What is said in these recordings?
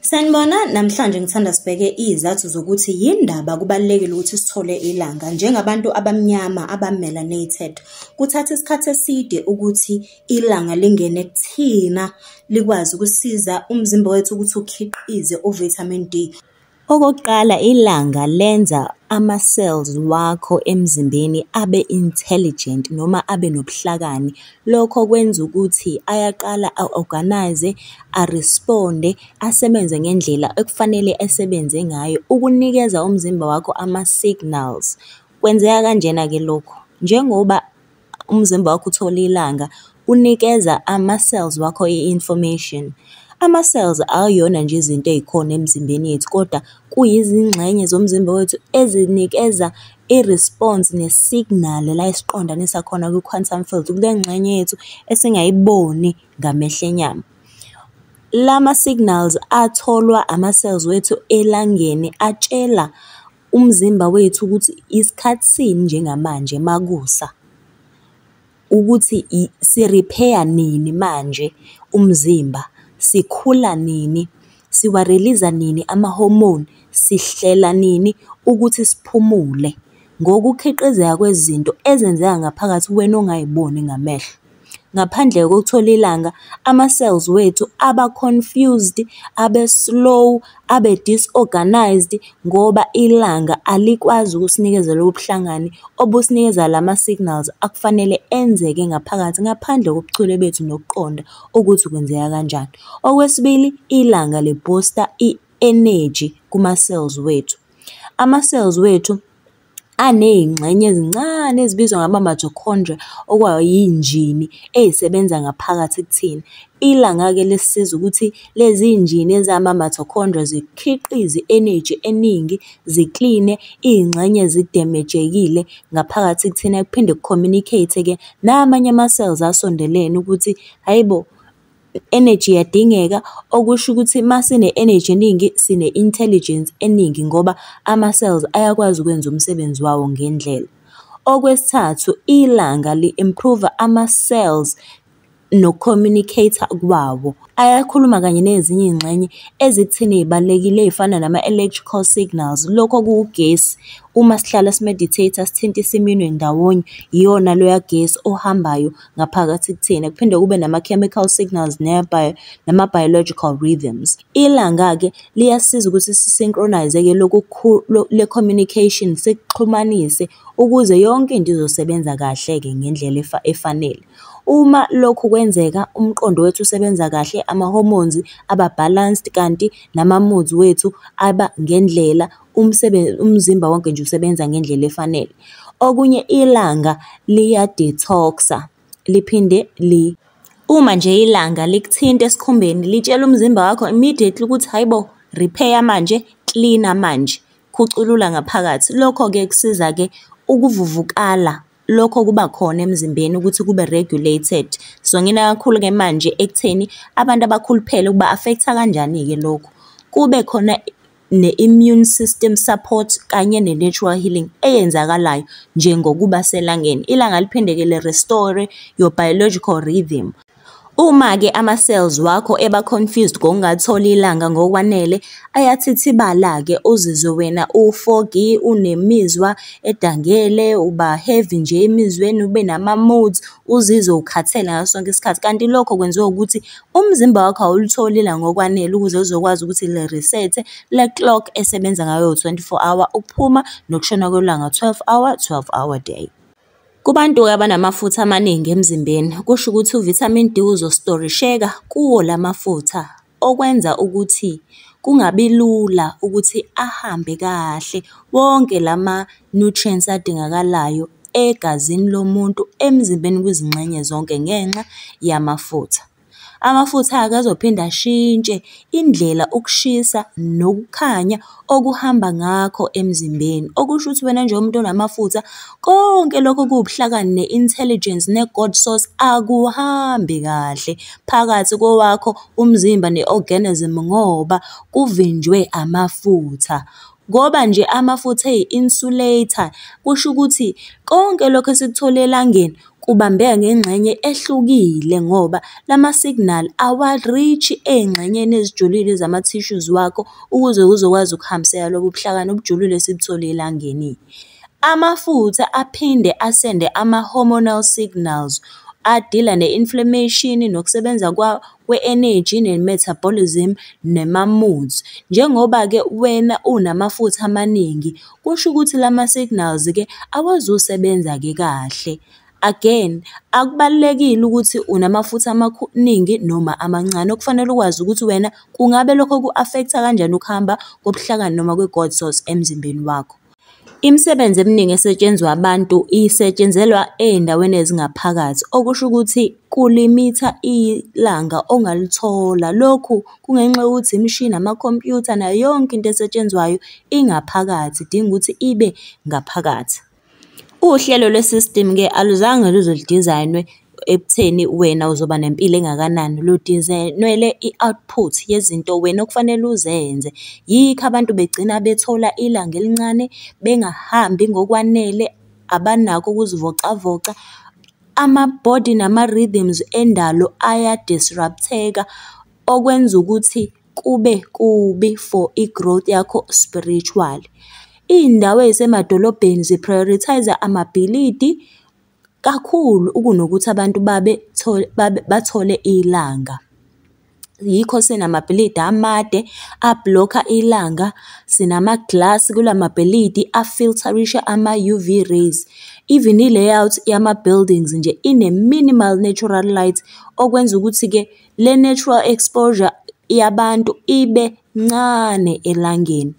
Sanibona, namhlanje ngithanda sibheke izathu zokuthi yindaba kubalulekile ukuthi sithole ilanga njengabantu abamnyama abamelanated. Kuthatha isikhathi eside ukuthi ilanga lingene kuthina likwazi ukusiza umzimba wethu ukuthi ukhiqize uvitamin D. Okokuqala ilanga lenza ama-cells wakho emzimbeni abe intelligent noma abe nobuhlakani. Lokho kwenza ukuthi ayaqala a-organise-ze, a-respond-e, asebenze ngendlela ekufanele esebenze ngayo ukunikeza umzimba wakho ama-signals. Kwenzeka kanjena-ke lokhu, njengoba umzimba wakho uthole ilanga unikeza ama-cells wakho i-information. Ama-cells akuyona nje izinto ey'khona emzimbeni yethu kodwa kuyizingxenye zomzimba wethu ezinikeza i-response ne-signal la esiqondanisa khona kwi-quantum field kule ngxenye yethu esingayiboni ngamehlo enyama. La ma-signals atholwa ama-cells wethu elangeni atshela umzimba wethu ukuthi isikhathi sini njengamanje makusa ukuthi si-repair nini manje umzimba, sikhula nini, siwariliza nini ama-hormone, sihlela nini ukuthi siphumule ngokukhiqizeka kwezinto ezenzeka ngaphakathi wena ongay'boni ngamehlo. Ngaphandle kokuthola ilanga, ama-cells wethu aba confused, abe slow, abe disorganised ngoba ilanga alikwazi ukusinikeza lobu buhlangani obusinikeza lama signals akufanele enzeke ngaphakathi ngaphandle kobuchule bethu nokuqonda ukuthi kwenzeka kanjani. Okwesibili, ilanga li-booster i-energy kuma-cells wethu. Ama-cells wethu anezingxenye ezincane ezibizwa ngama-mitochondria, okwakuyinjini eyayisebenza ngaphakathi kuthina. Ilanga-ke lisisiza ukuthi lezi zinjini ezama-mitochondria zikhiqize i-eneji eningi, zikline izingxenye ezidemejekile ngaphakathi kuthina, kuphinde ku-communicate-ke namanye ama-cells asondelene ukuthi hhayi bo! energy iyadingeka, okusho ukuthi uma sine-energy eningi sine-intelligence eningi ngoba ama-cells ayakwazi ukwenza umsebenzi wawo ngendlela. Okwesithathu, ilanga li-improve-a ama-cells noku-communicate-a kwawo. Ayakhuluma kanye nezinye iy'ngxenye ezikutheni ey'balulekile ey'fana nama-electrical signals, lokho okuwugesi. Uma sihlala si-meditate-a sithinta iseminwe ndawonye, yiwona loya gesi ohambayo. ngaphakathi kuthina kuphinde kube nama-chemical signals nama-biological rhythms. Ilanga-ke liyasiza ukuthi si-synchronize-ke lokhu le-communication sikuxhumanise ukuze yonke into izosebenza kahle-ke ngendlela efanele. Uma lokhu kwenzeka umqondo wethu usebenza kahle, ama-hormones aba-balanced kanti nama-moods wethu aba ngendlela. umsebenzi umzimba wonke nje usebenza ngendlela efanele. Okunye ilanga liya-detox-a liphinde li Uma nje ilanga likuthinta esikhumbeni litshela umzimba wakho immediately ukuthi hhayi bo repair manje, cleaner manje, khuculula ngaphakathi. Lokho-ke kusiza-ke ukuvuvukala lokho kuba khona emzimbeni ukuthi kube regulated. So ngina kakhulu-ke manje ekutheni abantu abakhuluphele kuba-affect-a kanjani-ke lokhu. Kube khona ne-immune system support kanye ne-natural healing eyenzakalayo njengokuba selangeni. Ilanga liphindeke le-restore your biological rhythm. Uma-ke ama-cells wakho eba-confused ngokungatholi ilanga ngokwanele, ayathithibala-ke uzizwe wena u-foggy, unemizwa edangele, uba-heavy nje emizweni, ube nama-moods, uzizwe ukhathele ngaso sonke isikhathi. Kanti lokho kwenziwa ukuthi Umzimba wakho awulutholi ilanga ngokwanele ukuze uzokwazi ukuthi le reset le clock esebenza ngayo 24 hour ukuphuma nokushona kwelanga 12 hour 12 hour day. Kubantu-ke abanamafutha amaningi emzimbeni, kusho ukuthi u-vitamin D uzostorisheka kuwo la mafutha, okwenza ukuthi kungabi lula ukuthi ahambe kahle wonke la ma. nutrients adingakalayo egazini lomuntu emzimbeni kwizingxenye zonke ngenxa yamafutha. Amafutha-ke azophinde ashintshe indlela ukushisa nokukhanya okuhamba ngakho emzimbeni. Okusho ukuthi wena njengomuntu onamafutha konke lokho kuwubuhlakani ne-intelligence ne-God source akuhambi kahle phakathi kowakho umzimba ne-organism ngoba kuvinjwe amafutha. Ngoba nje amafutha eyi-insulator, kusho ukuthi konke lokhu esikuthole elangeni kubambeka ngengxenye ehlukile ngoba lama-signal awa-reach-i ey'ngxenyeni ezijulile zama-tissues wakho ukuze kuzokwazi ukuhambiseka lobo buhlakani obujulile esibuthole elangeni. Amafutha aphinde asende ama-hormonal signals adila ne-inflammation nokusebenza kwawo we-energy ne-metabolism nema-moods. Njengoba-ke wena unamafutha amaningi, kusho ukuthi lama-signals-ke awazusebenza-ke kahle. Again, akubalulekile ukuthi unamafutha amaningi noma amancane. Okufanele ukwazi ukuthi wena kungabe lokho ku-affect-a kanjani ukuhamba kobuhlakani noma kwe-gods source emzimbeni wakho. Imisebenzi eminingi esetshenzwa abantu isetshenzelwa ezindaweni ezingaphakathi, okusho ukuthi kulimitha ilanga ongalithola. Lokhu kungenxa yokuthi imishini, amakhompuyutha nayo yonke into esetshenzwayo ingaphakathi, idinga ukuthi ibe ngaphakathi. Uhlelo lwe-system-ke aluzange luze ludizayinwe. ekutheni wena uzoba nempilo engakanani. Ludinzelwe i-output yezinto wena okufanele uzenze. Yikho abantu begcina bethola ilanga elincane, bengahambi ngokwanele, abanako ukuzivocavoca. Ama-body nama-rythms endalo aya-disrupt-eka, okwenza ukuthi kube kubi for i-growth yakho spiritually. Iy'ndawo ey'semadolobheni zi-prioritise-a amabhilidi. kakhulu ukunokuthi abantu babe bathole ilanga. Yikho sinamabhilidi amade a-block-a ilanga, sinama-glass kula mabhilidi a-filter-isha ama-U_V rays. Even i-layout yama-buildings nje ine-minimal natural light, okwenza ukuthi-ke le natural exposure yabantu ibe ncane elangeni.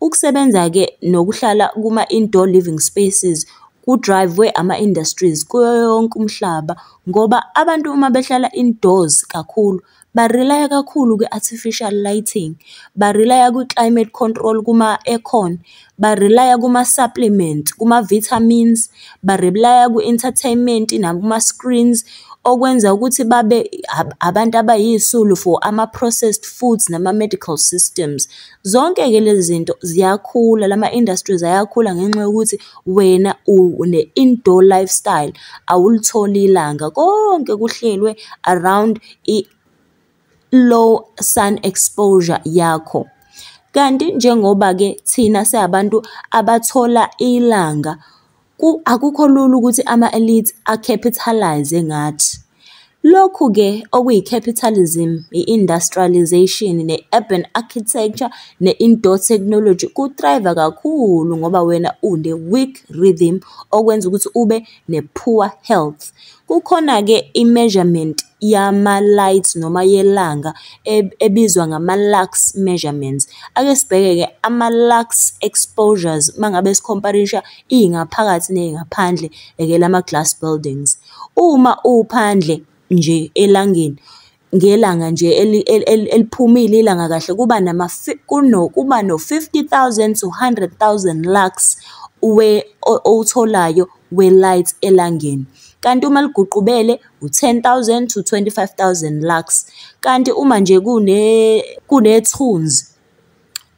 Ukusebenza-ke nokuhlala kuma-indoor living spaces ku-drive-we ama-industries kuyo yonke umhlaba ngoba abantu uma behlala indoors kakhulu ba-rely-a kakhulu kwi-artificial lighting, ba-rely-a kwi-climate control kuma-aircon, ba-rely-a kuma-supplements, kuma-vitamins, ba-rely-a kwi-entertainment nakuma-screens. Okwenza ukuthi babe abantu abayisisulu for ama-processed foods nama-medical systems. Zonke-ke lezi zinto ziyakhula, lama industries ayakhula ngenxa yokuthi wena une-indoor lifestyle, awulitholi ilanga. Konke kuhlelwe around i-low sun exposure yakho. Kanti njengoba-ke thina siyabantu abathola ilanga. Akukho lula ukuthi ama-elite a-capitalize ngathi. Lokhu-ke okuyi-capitalism, i-industrialisation, ne-urban architecture, ne-indoor technology ku-thrive-a kakhulu ngoba wena une-weak rhythm okwenza ukuthi ube ne-poor health. Kukhona-ke i-measurement yama-light noma yelanga ebizwa ngama-lux measurements. Ake sibheke-ke ama-lux exposures uma ngabe sikhomparisha iy'ngaphakathi ney'ngaphandle la ma-glass buildings. Uma uphandle nje elangeni, ngelanga nje eliphumile ilanga kahle kuba nama kuno kuba no 50,000 to 100,000 lux we owutholayo we light elangeni kanti uma liguqubele u-10000 to 25000 lux kanti uma nje kune kunethunzi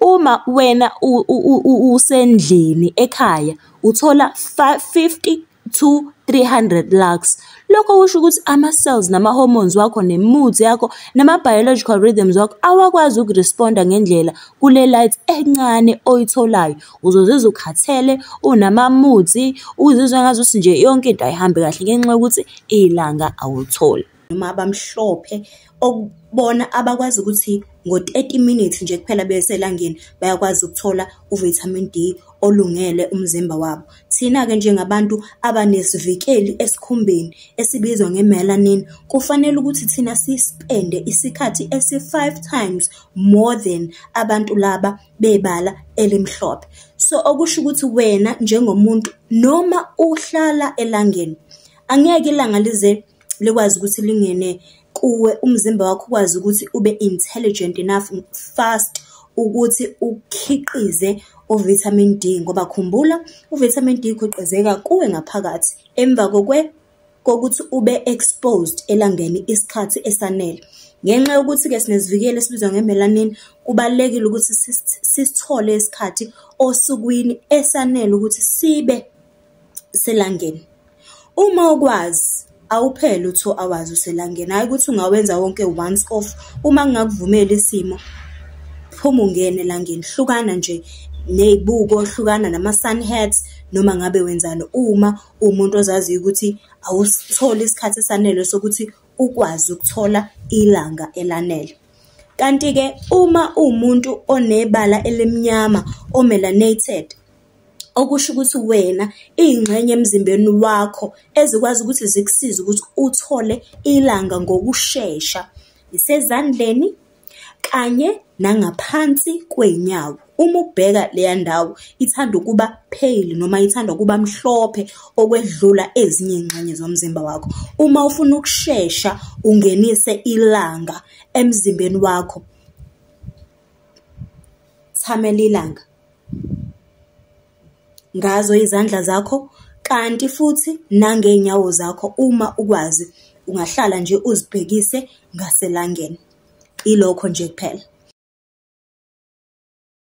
Uma wena usendlini ekhaya uthola 50 to 300 lux. Lokho kusho ukuthi ama-cells nama-hormones wakho ne-mood yakho nama-biological rhythms wakho awakwazi ukuresponda ngendlela kule light encane oyitholayo. Uzozizwa ukhathele, unama-moods, uzizwa ngazuthi nje yonke into ayihambi kahle ngenxa yokuthi ilanga awulitholi. noma abamhlophe okubona abakwazi ukuthi ngo-30 minutes nje kuphela beselangeni bayakwazi ukuthola uvitamin D olungele umzimba wabo. Thina-ke njengabantu abanesivikeli esikhumbeni esibizwa nge-melanin kufanele ukuthi thina sispende isikhathi esi-5 times more than abantu laba bebala elimhlophe. So okusho ukuthi wena njengomuntu noma uhlala elangeni angeke ilanga lize likwazi ukuthi lingene kuwe umzimba wakho ukwazi ukuthi ube intelligent enough fast ukuthi ukhiqize uvitamin D ngoba khumbula uvitamin D ukhiqizeka kuwe ngaphakathi emva kokwe kokuthi ube exposed elangeni isikhathi esanele ngenxa yokuthi ke sinezivikeli esibizwa ngemelanin kubalekile ukuthi sisithole isikhathi osukwini esanele ukuthi sibe selangeni. Uma ukwazi awuphele u-two hours uselangeni, hhayi ukuthi ungawenza wonke once off. Uma kungakuvumeli isimo, phuma ungene elangeni, hlukana nje ney'buko, hlukana nama-sun hats, noma ngabe wenzani uma uwumuntu ozaziyo ukuthi awusitholi isikhathi esanele sokuthi ukwazi ukuthola ilanga elanele. Kanti-ke uma uwumuntu onebala elimnyama, o-melanated, okusho ukuthi wena iy'ngxenye emzimbeni wakho ezikwazi ukuthi zikusize ukuthi uthole ilanga ngokushesha isezandleni kanye nangaphansi kwey'nyawo uma ubheka leya ndawo ithanda ukuba pale noma ithanda ukuba mhlophe okwedlula ezinye iy'ngxenye zomzimba wakho uma ufuna ukushesha ungenise ilanga emzimbeni wakho thamela ilanga ngazo izandla zakho kanti futhi nangeenyawo zakho uma ukwazi ungahlala nje uzibhekise ngaselangeni ilokho nje kuphela